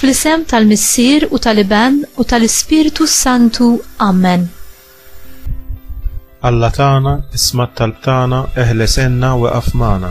Fl-isem tal-Missier u tal-Iben u tal-Ispirtu Santu. Amen. Alla tagħna, isma' talb tagħna, eħles enna u eqaf magħna.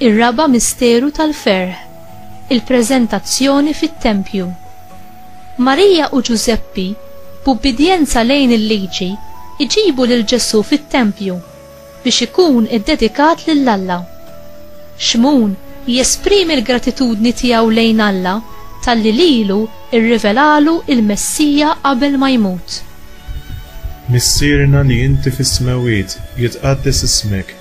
Ir-raba' misteru tal-ferħ, il-preżentazzjoni fit-tempju. Marija u Ġużeppi, b'ubbidjenza lejn il-Liġi, iġibu lil Ġesù fit-tempju biex ikun iddedikat lil Alla. Xmun jesprimi l-gratitudni tiegħu lejn Alla talli lilu rrivelalu l-Messija qabel ma jmut. Missierna li inti fis-smewwiet, jitqaddes ismek.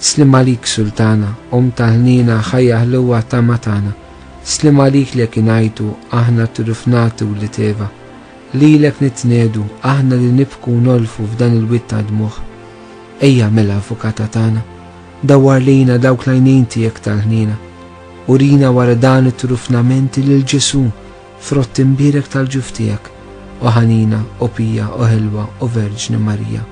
Sliem għalik Sultana, omm ta' ħniena, ħajja ħluwa tama tagħna. Sliem għalik li jekk ingħajtu, aħna t-turuf nagħtu wlied Eva. Lilek nitniedu, aħna li nibku u nolfu f'dan il-wied ta' dmugħ. Ejja mela Avukata tagħna, dawwar lejna dawk l-għajnejn tiegħek tal-ħniena. Urina wara dan it-turufnament lil Ġesù, frott imbierek tal-ġuf tiegħek, o ħanina, o pija, o ħelwa, o Verġni Marija.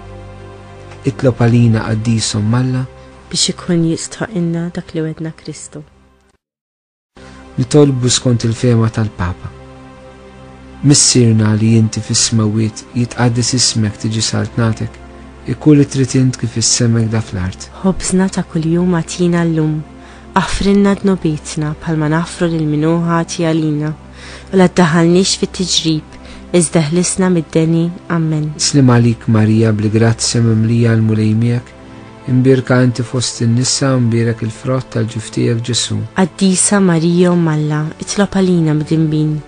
Itlob għalina Qaddis Omm Alla. Biex ikun jistħoqqilna dak li wegħdna Kristu. Nitolbu skont il-fehma tal-Papa. Missierna li inti fis-smewwiet jitqaddes ismek tiġi saltnatek, ikun li trid int kif issemek da fl-art. Ħobżna ta' kuljum agħtina llum. Aħfrilna dnubietna bħalma naħfru lil min hu ħati għalina. u la ddaħħalniex fit-tiġrib, iżda ħlisna mid-deni. Ammen. Slim għalik Marija bl-grazzja mimlija l-Mulej miegħek, imbierka inti fost in-nisa u mbierek il-frott tal-ġuftijek Ġesu. Qaddisa Marija u Malla, itlob għalina mdimbin,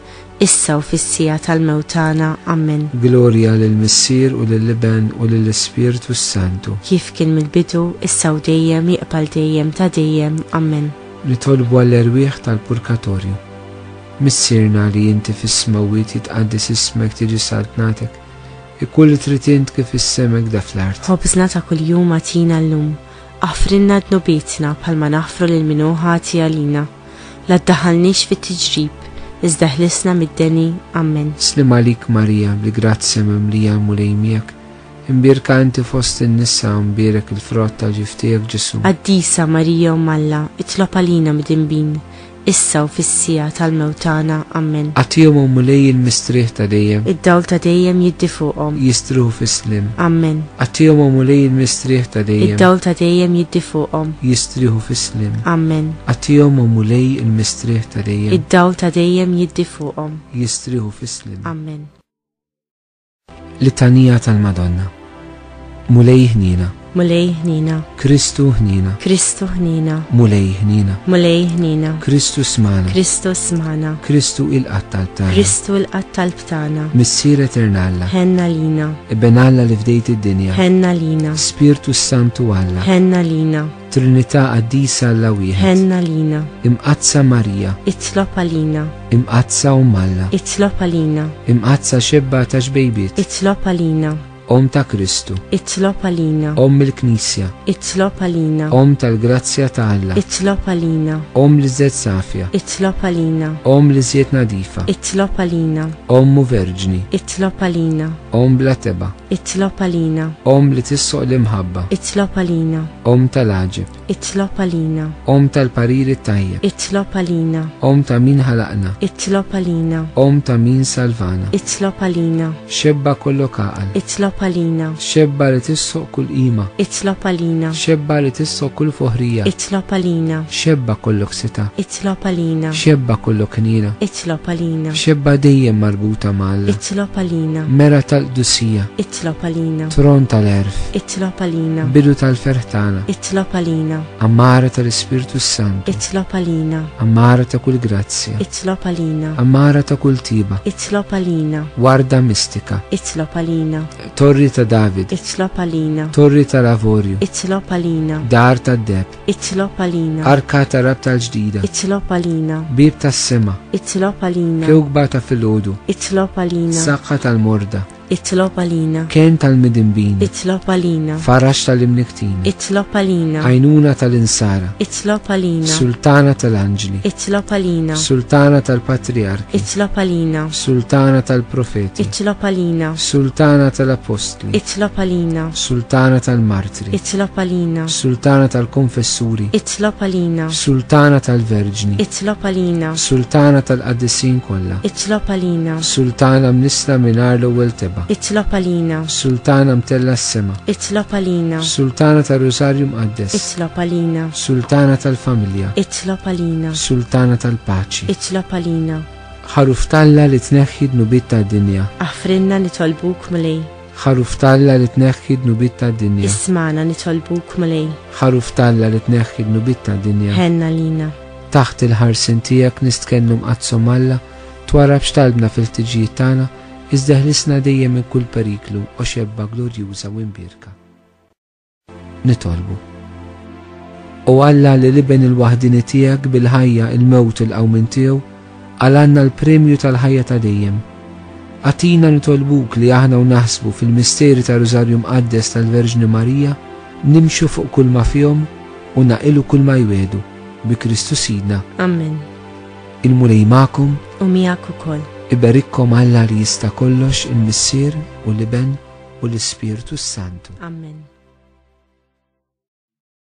issa u fis-sija tal-mewtana. Ammen. Glorja lil Missier u lil Iben u lil Ispirtu s-Santu. Kif kien mill-bidu, issa u dejjem, jiqbal dejjem ta' dejjem. Ammen. Nitolbu għall-erwieħ tal-purkatorju. Missierna li inti fis-smewwiet jitqaddes ismek tiġi saltnatek, ikun li trid int kif is-semek da fl-art. Ħobżna ta' kuljum agħtina llum. Aħfrilna dnubietna bħalma naħfru lil min hu ħati għalina. La ddaħħalniex fit-tiġrib, iżda ħlisna mid-deni. Ammen. Sliem għalik Marija, bl-grazzja mimlija l-Mulej miegħek, Imbierka inti fost in-nisa u mbierek il-frott ta' ġiff tiegħek Ġesù. Qaddisa Marija Omm Alla, itlob għalina midinbin, issa u fis-siegħa tal-mewt tagħna. Ammen. Agħtihom, O Mulej, il-mistrieħ ta' dejjem. Id-dawl ta' dejjem jiddi fuqhom. Jistrieħu fis-sliem. Ammen. Agħtihom, O Mulej, il-mistrieħ ta' dejjem. Id-dawl ta' dejjem jiddi fuqhom. Jistrieħu fis-sliem. Ammen. Agħtihom, O Mulej, il-mistrieħ ta' dejjem. Id-dawl ta' dejjem jiddi fuqhom. Jistrieħu fis-sliem. Ammen. Littanija tal-Madonna. Mulej ħnina. Mulej ħnina. Kristu ħnina. Kristu ħnina. Mulej ħnina. Mulej ħnina. Kristu smana. Kristu smana. Kristu il-qatt tal-btana. Kristu il-qatt tal-btana. Missier eternalla. Henna lina. Ibben Alla li fdejt id-dinja. Henna lina. Spirtu Santu Alla. Henna lina. Trinità Qaddisa Alla Wieħed. Ħenna lina. Imqazza Marija. Itlob għalina. Imqazza Um Alla. Itlob għalina. Imqazza xebba ta' xbejbiet. Itlob għalina. Om ta' Kristu. Itlob għalina. Om il-Knisja. Itlob għalina. Om tal-grazzja ta' Alla. Itlob għalina. Om li żed safja. Itlob għalina. Om li żjed nadifa. Itlob għalina. Ommu Verġni. Itlob għalina. Om bla teba. Itlob għalina. Om li tissoq l-imħabba. Itlob għalina. Om tal-għaġib. Itlob għalina. Om tal-pariri tajjeb. Itlob għalina. Om ta' min ħalaqna. Itlob għalina. Om ta' min salvana. Itlob għalina. Xebba kollu kaqal. Itlob għalina. Xebba li tissoq kull qima. Itlob għalina. Xebba li tissoq kull foħrija. Itlob għalina. Xebba kollu ksita. Itlob għalina. Xebba kollu knina. Itlob għalina. Xebba dejjem marbuta mal. Itlob għalina. Mera tal-qdusija. Itlob għalina. Tron tal-erf. Itlob għalina. Bidu tal-ferħtana. Itlob għalina. Amara tal-Ispirtu Santu. Itlob għalina. Amara ta' kull grazzja. Itlob għalina. Amara ta' kull tiba. Itlob għalina. Warda mistika. Itlob għalina. Torri ta' David. Itlob għalina. Torri tal-avorju. Itlob għalina. Dar tad-deb. Itlob għalina. Arka ta' rabta l-ġdida. Itlob għalina. Bib tas-sema. Itlob għalina. Kewkba ta' filgħodu. Itlob għalina. Saqqa tal-morda. Itlob għalina. Ken tal-midimbin. Itlob għalina. Farax tal-imniktin. Itlob għalina. Għajnuna tal-insara. Itlob għalina. Sultana tal-anġli. Itlob għalina. Sultana tal-patriarki. Itlob għalina. Sultana tal-profeti. Itlob għalina. Sultana tal-apostli. Itlob għalina. Sultana tal-marti. Itlob għalina. Sultana tal-Konfessuri. Itlob għalina. Sultana tal-Verġni. Itlob għalina. Sultana tal-Qaddisin kollha. Itlob għalina. Sultana mnissla mingħajr l-ewwel teba. Itlob għalina. Sultana mtella s-sema. Itlob għalina. Sultana tar-Rużarju Mqaddes. Itlob għalina. Sultana tal-Familja. Itlob għalina. Sultana tal-Paċi. Itlob għalina. Ħaruf talla li tneħħi dnubit tad-dinja. Aħfrinna nitolbuk mulej. Ħaruf talla li tneħħi dnubit ta' dinja. Ismana nitolbuk mulej. Ħaruf talla li tneħħi dnubit ta' dinja. Henna lina. Taħt il-ħarsin tiegħek nistkennu mqazzom Alla, twara b'xtalbna fil-ħtiġijiet tagħna, iżdeħlisna dejjem minn kull periklu, o xebba glorjuża u imbierka. Nitolbu. U Alla li l-Iben il-waħdini tiegħek bil-ħajja il-mewt il-qawmin tiegħu għal għandna l-premju tal-ħajja ta' dejjem. Atina nitolbuk li aħna u naħsbu fil-misteri ta' Rużarju Mqaddes tal-Verġni Marija nimxu fuq kull ma fihom u naqilu kull ma jwedu bi Kristu Sidna. Amen. Il-Mulej magħkom u miegħek ukoll. Iberikkom Alla li jista' kollox il-Missier u l-Iben u l-Ispirtu s-Santu. Amen.